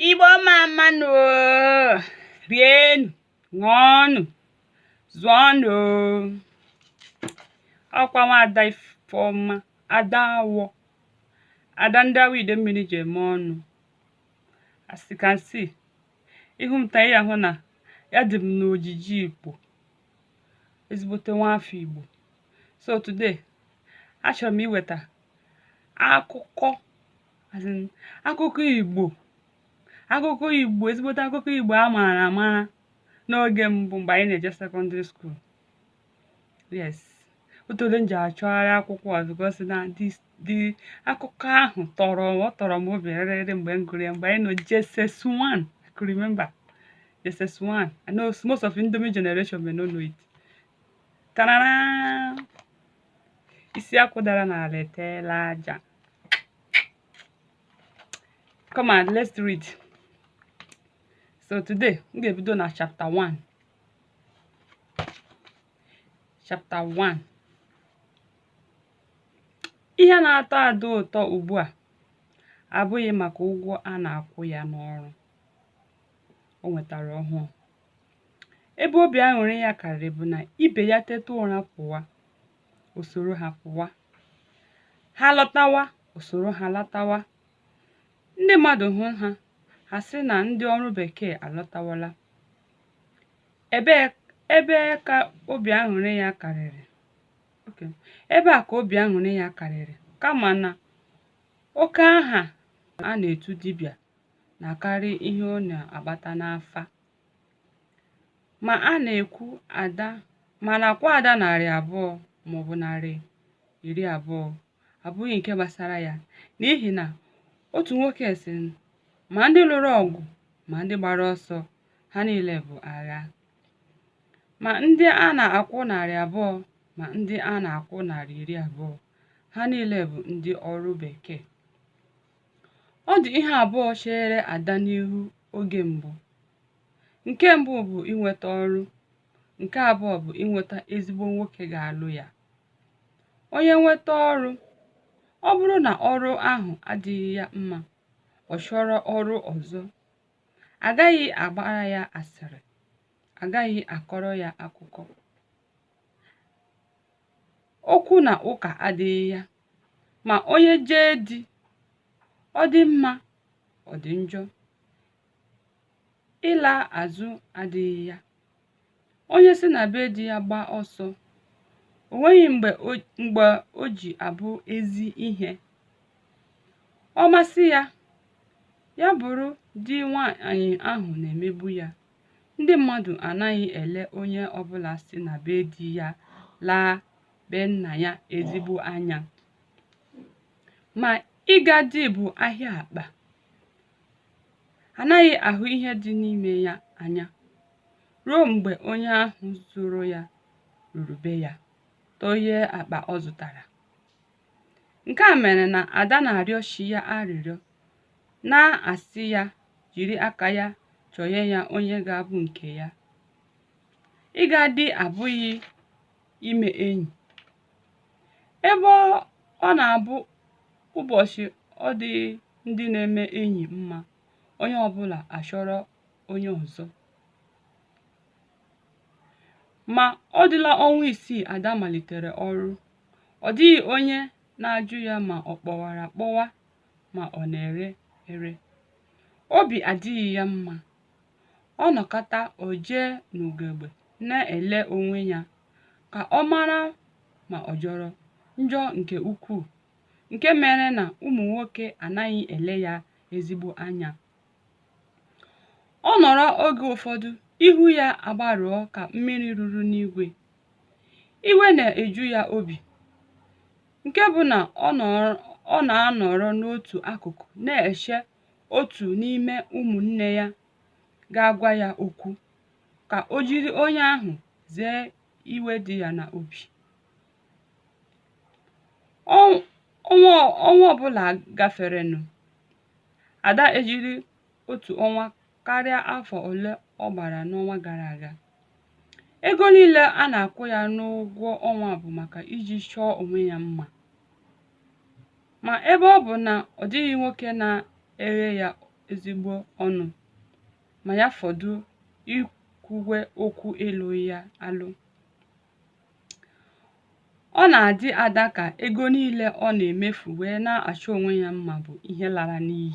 igbo mma mma nụ rienụ ṅụọnụ zụọnụ ọ kwa nwada ifeọma ada awọ ada ndị awọ idemmiri ji eme ọnụ as you can see ị hụ m taa ị ya-ahụ na ya dị m n'ojiji igbo ezigbote nwa afọ igbo so today achọrọ m iweta akụkọ As in, akụkọ Igbo akụkọ Igbo ezigbote akụkọ Igbo a maara amara n'oge mbụ mgbe anyị na-eje secondary school yes o teela m ji achọgharị akwụkwọ a because na this the akụkọ ahụ tọrọ ọ tọrọ m obi rịrịrị mgbe m gụrụ ya mgbe anyị nọ JSS1 I could remember JSS1 I know most of Indomie generation may not know it tarara isi akwụ dara n'ala eteela aja come on let's read so today m ga-ebido na chapter 1 chapter 1 ihe na-atọ ada ụtọ ugbu a abụghị maka ụgwọ a na-akwụ ya n'ọrụ o nwetara ọhụụ ebe obi aṅụrị ya karịrị bụ na ibe ya teta ụra pụwa o soro ha pụwa ha lọtawa o soro ha lọtawa ndị mmadụ hụ ha ha sị na ndị ọrụ bekee alọtawala ebe ka obi aṅụrị ya karịrị ebe a ka obi aṅụrị ya karịrị kama na oke aha a na-etu dibịa na-akarị ihe ọ na-agbata n'afa ma a na-ekwu ada ma a na-akwụ ada narị abụọ maọbụ narị iri abụọ abụghị nke gbasara ya n'ihi na otu nwoke sị ma ndị lụrụ ọgụ ma ndị gbara ọsọ ha niile bụ agha ma ndị a na-akwụ narị abụọ ma ndị a na-akwụ narị iri abụọ ha niile bụ ndị ọrụ bekee Ọ dị ihe abụọ chere Ada n'ihu oge mbụ. Nke mbụ bụ inweta ọrụ, nke abụọ bụ inweta ezigbo nwoke ga-alụ ya. Onye nweta ọrụ, ọ bụrụ na ọrụ ahụ adịghị ya mma, ọ chọrọ ọrụ ọzọ. A gaghị agbara ya asịrị, a gaghị akọrọ ya akụkọ. Okwu na ụka adịghị ya ma onye jee di ọ dị mma ọ dị njọ ịla azụ adịghị ya onye si na be di ya gbaa ọsọ o nweghị mgbe o ji abụ ezi ihe ọ masị ya ya bụrụ di nwaanyị ahụ na-emegbu ya ndị mmadụ anaghị ele onye ọbụla si na be di ya laa be nna ya ezigbo anya ma ịga di bụ ahịa akpa anaghị ahụ ihe dị n'ime ya anya ruo mgbe onye ahụ zụrụ ya ruru be ya tọghee akpa ọ zụtara nke a mere na ada na-arịọ chi ya arịrịọ na-asị ya jiri aka ya chọnye ya onye ga-abụ nke ya ịga di abụghị ime enyi ebe ọ na-abụ ụbọchị ọ dị ndị na-eme enyi mma onye ọbụla achọrọ onye ọzọ ma ọ dịla ọnwa isii ada malitere ọrụ ọ dịghị onye na-ajụ ya ma ọ kpọwara akpọwa ma ọ na-ere ere obi adịghị ya mma ọ nọkata o jee n'ugegbe na-ele onwe ya ka ọ mara ma ọ jọrọ njọ nke ukwuu nke mere na ụmụ nwoke anaghị ele ya ezigbo anya ọ nọrọ oge ụfọdụ ihu ya agbarụọ ka mmiri ruru n'igwe iwe na-eju ya obi nke bụ na ọ na-anọrọ n'otu akụkụ na-eche otu n'ime ụmụnne ya ga-agwa ya okwu ka o jiri onye ahụ zee iwe dị ya na obi Ọnwa ọbụla gaferenụ ada ejiri otu ọnwa karịa afọ ole ọ gbara n'ọnwa gara aga. Ego niile a na-akwụ ya n'ụgwọ ọnwa bụ maka iji chọọ onwe ya mma. Ma ebe ọ bụ na ọ dịghị nwoke na-eghe ya ezigbo ọnụ ma ya fọdụ ikwuwe okwu ịlụ ya alụ, Ọ na-adị Ada ka ego niile ọ na-emefu wee na-achọ onwe ya mma bụ ihe lara n'iyi.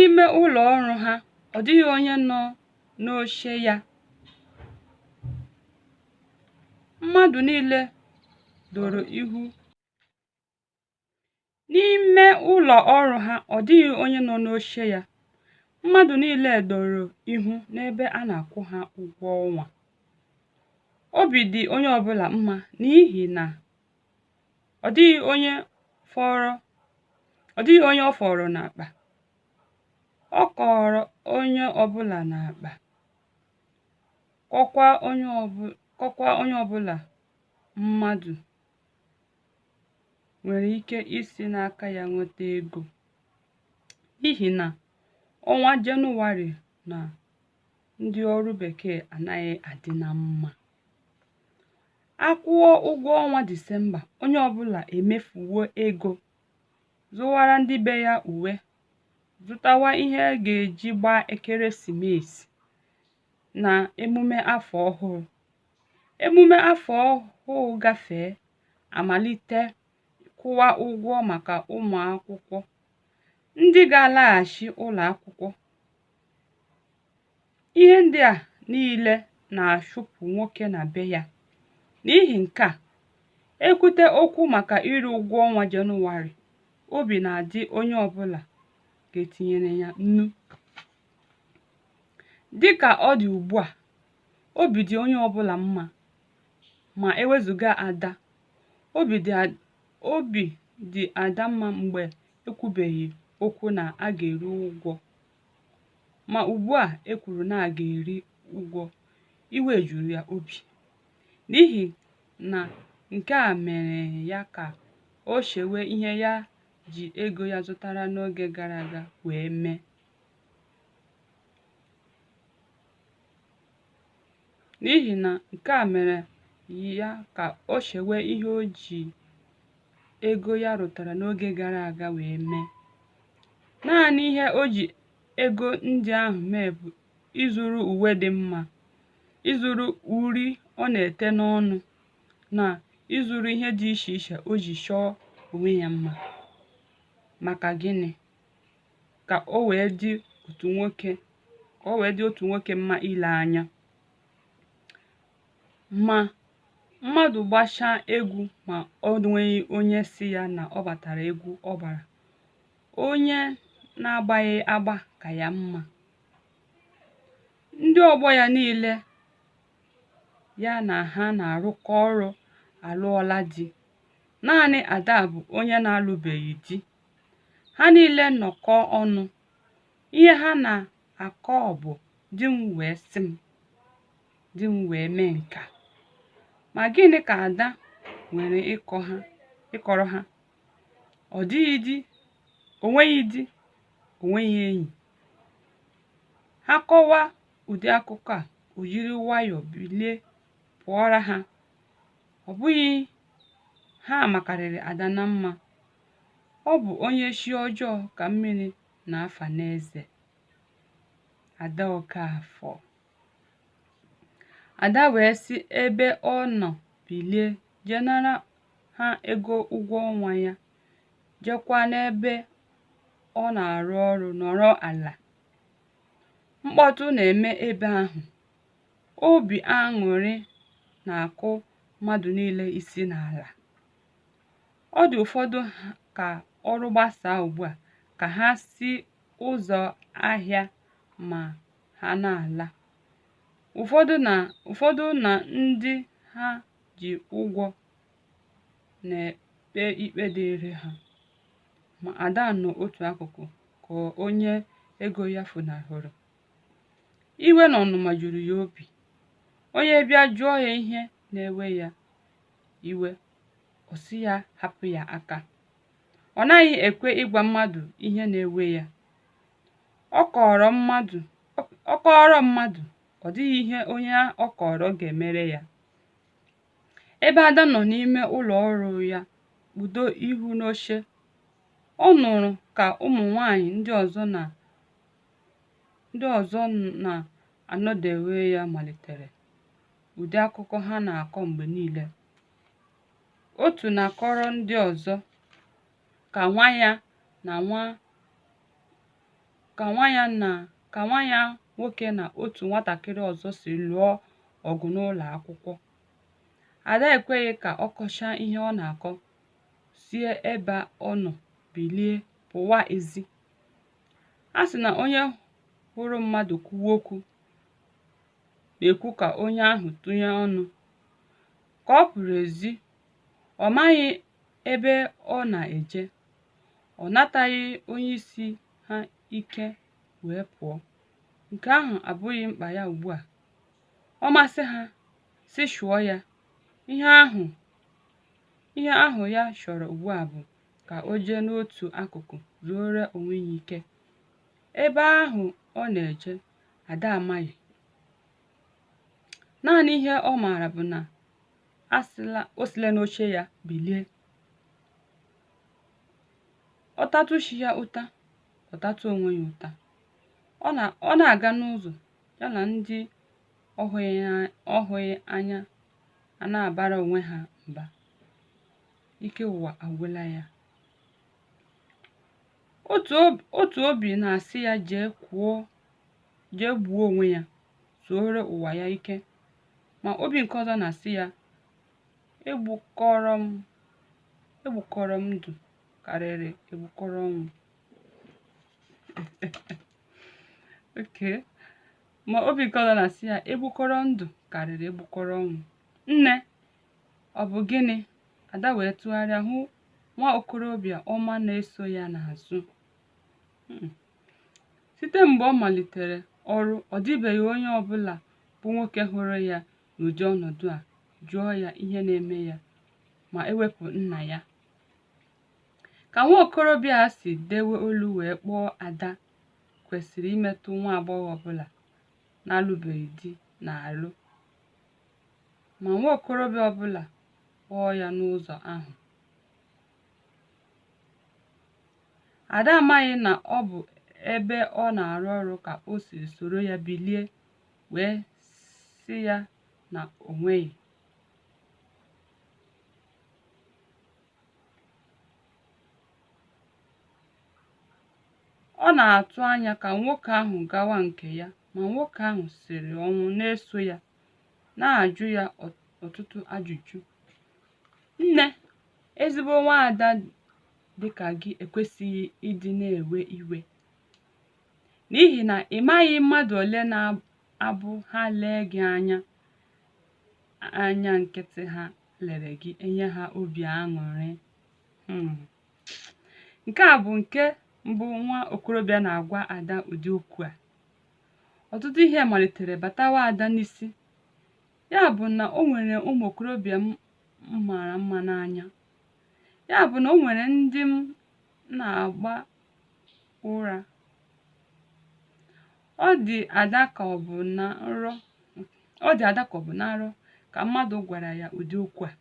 Ime ụlọ ọrụ ha, ọ dịghị onye nọ n'oche ya. Mmadụ niile doro ihu N'ime ụlọ ọrụ ha, ọ dịghị onye nọ n'oche ya. Mmadụ niile doro ihu n'ebe a na-akwụ ha ụgwọ ọnwa. Obi dị onye ọbụla mma n'ihi na ọ dịghị onye fọrọ ọ dịghị onye ọ fọrọ n'akpa. Ọ kọrọ onye ọbụla n'akpa, kọkwa onye ọbụ- kọkwa onye ọbụla mmadụ nwere ike isi n'aka ya nweta ego n'ihi na ọnwa Jenụwarị na ndị ọrụ bekee anaghị adị na mma a kwụọ ụgwọ ọnwa Disemba onye ọbụla emefuwo ego zụwara ndị be ya uwe zụtawa ihe a ga-eji gbaa ekeresimesi na emume afọ ọhụrụ emume afọ ọhụụ gafee a malite kwụwa ụgwọ maka ụmụ akwụkwọ ndị ga-alaghachi ụlọ akwụkwọ ihe ndị a niile na-achụpụ nwoke na be ya n'ihi nke a e kwute okwu maka iri ụgwọ ọnwa jenụwarị obi na-adị onye ọbụla ka e tinyere ya nnu dịka ọ dị ugbu a obi dị onye ọbụla mma ma e wezuga ada obi dị obi dị ada mma mgbe e kwubeghị okwu na a ga-eri ụgwọ ma ugbu a e kwuru na a ga-eri ụgwọ iwe juru ya obi n'ihi na nke a mere ya ka o chewe ihe ya ji ego ya zụtara n'oge gara aga wee mee n'ihi na nke a mere ya ka o chewe ihe o ji ego ya rụtara n'oge gara aga wee mee naanị ihe o ji ego ndị ahụ mee bụ ịzụrụ uwe dị mma ịzụrụ uri ọ na-ete n'ọnụ na ịzụrụ ihe dị iche iche o ji chọọ onwe ya mma maka gịnị ka o wee dị otu nwoke ka o wee dị otu nwoke mma ile anya ma mmadụ gbachaa egwu ma o nweghị onye sị ya na ọ gbatara egwu ọ gbara onye na-agbaghị agba ka ya mma ndị ọgbọ ya niile ya na ha na-arụkọ ọrụ alụọla di naanị ada bụ onye na-alụbeghị di ha niile nọkọ ọnụ ihe ha na-akọ bụ di m wee sị m di m wee mee nka ma gịnị ka ada nwere ịkọ ha ịkọrọ ha ọ dịghị di o nweghị di o nweghị enyi ha kọwa ụdị akụkọ a o jiri nwayọọ bilie pụọra ha ọ bụghị ha makarịrị ada na mma Ọ bụ onye chi ọjọọ ka mmiri na-afa n'eze. Ada Okafor. Ada wee si ebe ọ nọ bilie jee nara ha ego ụgwọ ọnwa ya, jekwa n'ebe ọ na-arụ ọrụ nọrọ ala. Mkpọtụ na-eme ebe ahụ. Obi aṅụrị na-akụ mmadụ niile isi n'ala. Ọ dị ụfọdụ ka ọrụ gbasaa ugbu a ka ha si ụzọ ahịa ma ha na-ala. Ụfọdụ na ụfọdụ na ndị ha ji ụgwọ na-ekpe ikpe dịịrị ha. Ma Ada nọ otu akụkụ ka onye ego ya funahụrụ. Iwe na ọnụma juru ya obi. Onye bịa jụọ ya ihe na-ewe ya iwe ọ sị ya hapụ ya aka ọ naghị ekwe ịgwa mmadụ ihe na-ewe ya ọ kọọrọ mmadụ ọ kọọrọ mmadụ ọ dịghị ihe onye ọ kọọrọ ga-emere ya ebe ada nọ n'ime ụlọ ọrụ ya kpudo ihu n'oche ọ nụrụ ka ụmụ nwanyị ndị ọzọ na ndị ọzọ na-anọdewe ya malitere ụdị akụkọ ha na-akọ mgbe niile otu na-akọrọ ndị ọzọ ka nwa ya na nwa ka nwa ya na ka nwa ya nwoke na otu nwatakịrị ọzọ si lụọ ọgụ n'ụlọ akwụkwọ ada ekweghị ka ọ kọchaa ihe ọ na-akọ sie ebe ọ nọ bilie pụwa ezi a sị na onye hụrụ mmadụ kwuwe okwu na-ekwu ka onye ahụ tụnye ọnụ ka ọ pụrụ ezi ọ maghị ebe ọ na-eje ọ nataghị onye isi ha ike wee pụọ nke ahụ abụghị mkpa ya ugbu a ọ masị ha si chụọ ya ihe ahụ ihe ahụ ya chọrọ ugbu a bụ ka o jee n'otu akụkụ zuoro onwe ya ike ebe ahụ ọ na-eje ada amaghị naanị ihe ọ maara bụ na o sila n'oche ya bilie ọ tatụ chi ya ụta ọ tatụ onwe ya ụta ọ na ọ na-aga n'ụzọ ya na ndị ọ hụghị ya- ọ hụghị anya a na-abara onwe ha mba ike ụwa agwụla ya otu obi na-asị ya jee kwuo jee gbuo onwe ya zuore ụwa ya ike ma obi nke ọzọ na-asị ya egbukọrọ m egbukọrọ m ndụ karịrị egbukọrọ ọnwụ oke ma obi nke ọzọ na-asị ya egbukọrọ ndụ karịrị egbukọrọ ọnwụ nne Ọ bụ gịnị? Ada wee tụgharịa hụ nwa okorobịa ọma na-eso ya n'azụ. Hmm. Site mgbe ọ malitere ọrụ, ọ dịbeghị onye ọ bụla bụ nwoke hụrụ ya n'ụdị ọnọdụ a jụọ ya ihe na-eme ya ma ewepụ nna ya. Ka nwa okorobịa a si dewe olu wee kpọọ Ada kwesịrị imetụ nwa agbọghọ ọbụla na-alụbeghị di n'ahụ ma nwa okorobịa ọbụla kpọọ ya n'ụzọ ahụ. Ada amaghị na ọ bụ ebe ọ na-arụ ọrụ ka o siri soro ya bilie wee sị ya na o nweghị. Ọ na-atụ anya ka nwoke ahụ gawa nke ya, ma nwoke ahụ siri ọnwụ na-eso ya, na-ajụ ya ọtụtụ ajụjụ. Nne, ezigbo nwaada dị ka gị ekwesịghị ịdị na-ewe iwe n'ihi na ị maghị mmadụ ole na-abụ ha lee gị anya anya nkịtị ha lere gị enye ha obi aṅụrị hmm. nke a bụ nke mbụ nwa okorobịa na-agwa ada ụdị okwu a ọtụtụ ihe malitere batawa ada n'isi ya bụ na o nwere ụmụ okorobịa m mara mma n'anya ya bụ na o nwere ndị m na-agba ụra Ọ dị Ada ka ọ bụ na nrọ ọ dị Ada ka ọ bụ na nrọ ka mmadụ gwara ya ụdị okwu a.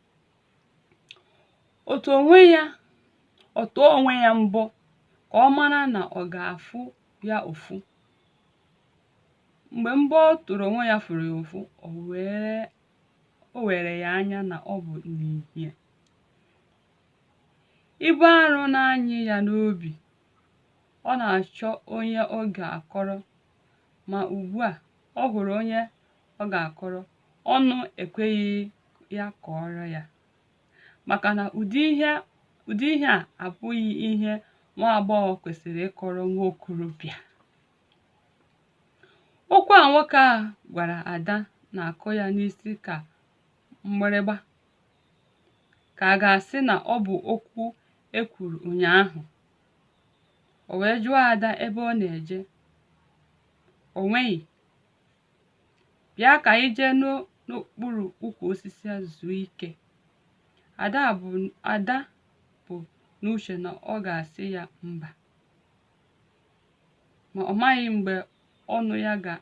Ọ tụ onwe ya ọ tụọ onwe ya mbọ ka ọ mara na ọ ga-afụ ya ụfụ. Mgbe mbọ ọ tụrụ onwe ya fụrụ ya ụfụ, o wee o were ya anya na ọ bụ n'ihie. Ibu arụ na-anyị ya n'obi ọ na-achọ onye ọ ga-akọrọ ma ugbu a ọ hụrụ onye ọ ga-akọrọ ọnụ ekweghị ya kọọrọ ya maka na ụdị ihe ụdị ihe a abụghị ihe nwa agbọghọ kwesịrị ịkọrọ nwa okorobịa okwu a nwoke a gwara ada na-akụ ya n'isi ka mgbịrịgba ka a ga-asị na ọ bụ okwu e kwuru ụnyaahụ o wee jụọ ada ebe ọ na-eje o nweghị bịa ka anyị jee n'o- n'okpuru ukwu osisi a zuo ike ada bu ada bu n'uche na ọ ga-asị ya mba ma ọ maghị mgbe ọnụ ya ga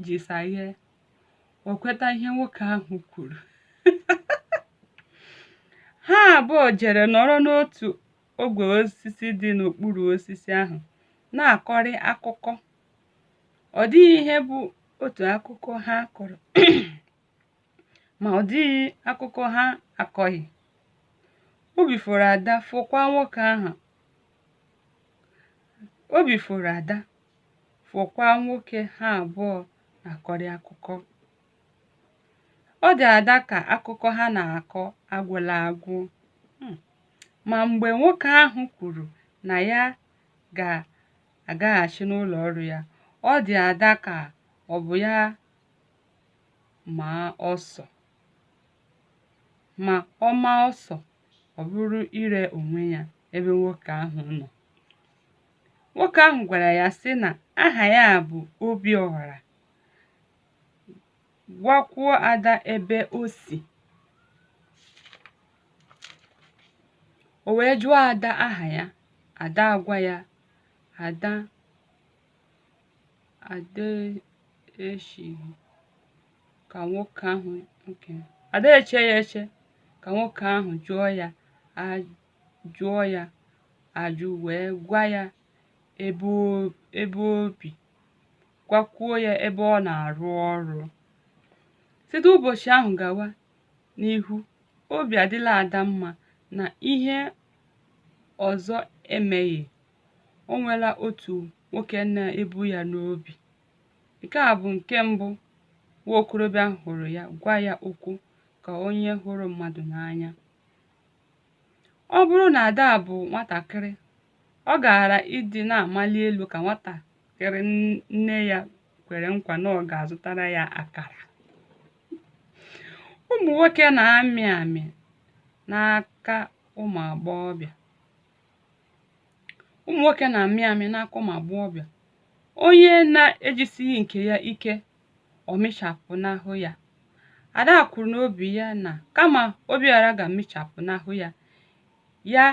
ji saghee o kweta ihe nwoke ahụ kwuru ha abụọ jere nọrọ n'otu ogwe osisi dị n'okpuru osisi ahụ na-akọrị akụkọ ọ dịghị ihe bụ otu akụkọ ha kọrọ ma ọ dịghị akụkọ ha akọghị obi fọrọ ada fọkwa nwoke ahụ obi fọrọ ada fọkwa nwoke ha abụọ na-akọrị akụkọ ọ dị ada ka akụkọ ha na-akọ agwụla agwụ hmm. ma mgbe nwoke ahụ kwuru na ya ga-agaghachi n'ụlọ ọrụ ya ọ dị ada ka ọ bụ ya maa ọsọ ma ọ maa ọsọ ọ bụrụ ire onwe ya ebe nwoke ahụ nọ nwoke ahụ gwara ya sị na aha ya bụ obiọra gwakwuo ada ebe o si o wee jụọ ada aha ya ada agwa ya ada ada echeghị ka nwoke ahụ nke ada eche ya eche ka nwoke ahụ jụọ ya jụọ ya ajụ wee gwa ya ebe o- ebe o bi gwakwuo ya ebe ọ na-arụ ọrụ site ụbọchị ahụ gawa n'ihu obi adịla ada mma na ihe ọzọ emeghị o nwela otu nwoke na-ebu ya n'obi nke a bụ nke mbụ nwa okorobịa hụrụ ya gwa ya okwu ka onye hụrụ mmadụ n'anya Ọ bụrụ na Ada bụ nwatakịrị, ọ gaara ịdị na-amali elu ka nwatakịrị nne ya kwere nkwa na ọ ga-azụtara ya akara. Ụmụ nwoke na-amị amị n'aka ụmụ agbọghọbịa. Ụmụ nwoke na-amị amị n'aka ụmụ agbọghọbịa. Onye na-ejisighị nke ya ike ọ mịchapụnahụ ya ada kwuru n'obi ya na kama obiọra ga-amịchapụnahụ ya ya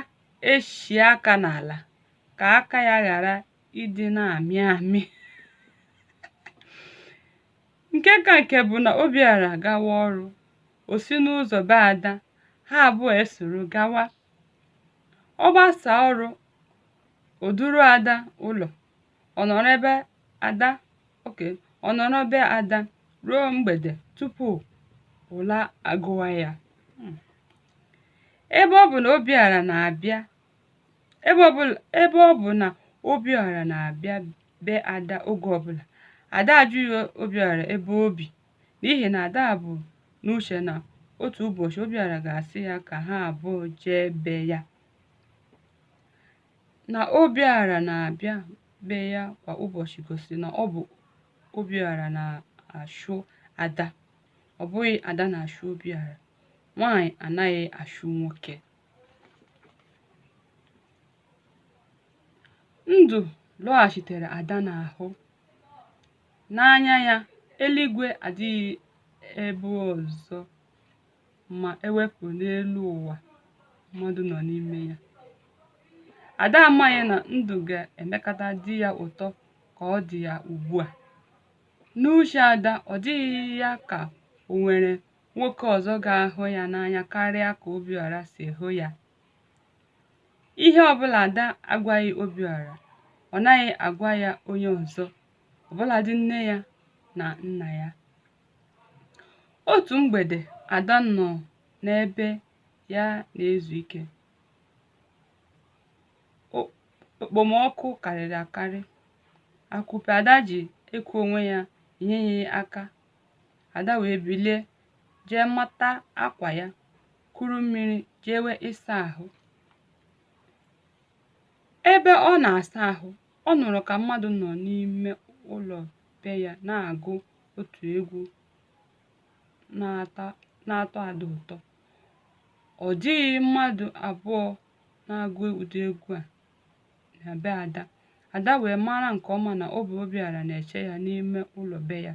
echie aka n'ala ka aka ya ghara ịdị na-amị amị nke ka nke bụ na obiọra gawa ọrụ o si n'ụzọ be ada ha abụọ esoro gawa ọ gbasaa ọrụ o duru ada ụlọ ọ nọrọ be ada ọ nọrọ be ada ruo mgbede tupu ụla agụwa ya hmm. ebe ọ bụ na obiọra na-abịa ebe ọ bụ na obiọra na-abịa be ada oge ọbụla ada ajụghị obiọra ebe o bi n'ihi na ada bu n'uche na otu ụbọchị obiọra ga-asị ya ka ha abụọ jee be ya Na Obiọra na-abịa be ya kwa ụbọchị gosiri na ọ bụ Obiọra na-achụ Ada, ọ bụghị Ada na-achụ Obiọra. Nwaanyị anaghị achụ nwoke. Ndụ lọghachitere Ada n'ahụ. N'anya ya, eluigwe adịghị ebe ọzọ. ma e wepụ n'elu ụwa mmadụ nọ n'ime ya ada amaghị na ndụ ga-emekata dị ya ụtọ ka ọ dị ya ugbu a n'uche ada ọ dịghị ya ka o nwere nwoke ọzọ ga-ahụ ya n'anya karịa ka obiọra si hụ ya ihe ọbụla ada agwaghị obiọra ọ naghị agwa ya onye ọzọ ọbụladị nne ya na nna ya Otu mgbede, Ada nọ n'ebe ya na-ezu ike. O- Okpomọkụ karịrị akarị. Akupe Ada ji eku onwe ya enyeghị ya aka. Ada wee bilie jee mata akwa ya, kuru mmiri jewe ịsa ahụ. Ebe ọ na-asa ahụ, ọ nụrụ ka mmadụ nọ n'ime ụlọ be ya na-agụ otu egwu na-atọ ada ụtọ ọ dịghị mmadụ abụọ na-agụ ụdị egwu a na be ada ada wee mara nke ọma na ọ bụ obiọra na-eche ya n'ime ụlọ be ya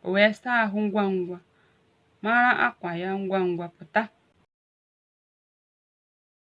o wee saa ahụ ngwa ngwa mara akwa ya ngwa ngwa pụta